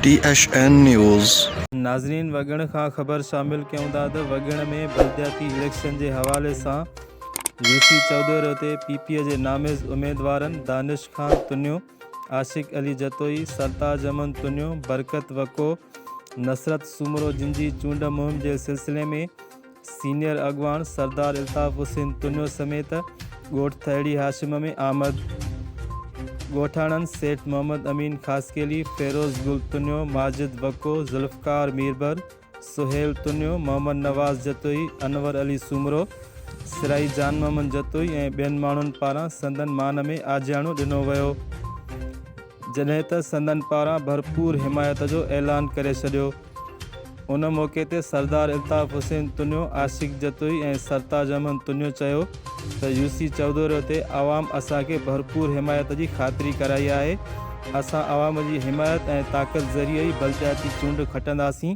ٽي H N news. ناظرين وڳڻ کان خبر شامل ڪيون ٿا ته وڳڻ ۾ بلدياتي اليڪشن جي حوالي سان يوسي چئودوري تي پي پي جي ناميز اميدوارن دانش خان تنيو، عاشق علي جتوئي، سرتاج احمد تنيو، برڪت وڪو، نصرت سومرو جن جي چونڊ مهم جي سلسلي ۾ سينيئر اڳواڻ سردار الطاف حسين تنيو سميت ڳوٺ ٿهڙي هاشم ۾ آمد ڳوٺاڻن سيٺ محمد امين خاصخيلي، فيروز گل تنيو، ماجد بڪو، ذوالفقار ميربر، سهيل تنيو، محمد نواز جتوئي، انور علي سومرو، سرائي جان محمد جتوئي ۽ ٻين ماڻهن پاران سندن مان ۾ آجياڻو ڏنو ويو. جڏهن ته سندن پاران ڀرپور حمايت جو اعلان ڪري ڇڏيو. ان موقعي تي سردار الطاف حسين تنيو، عاشق جتوئي ۽ سرتاج احمد تنيو چيو ته يوسي چئودوري تي عوام اسان کي ڀرپور حمايت جي خاطري ڪرائي آهي، اسان عوام جي حمايت ۽ طاقت ذريعي ئي بلدياتي چونڊ کٽنداسين،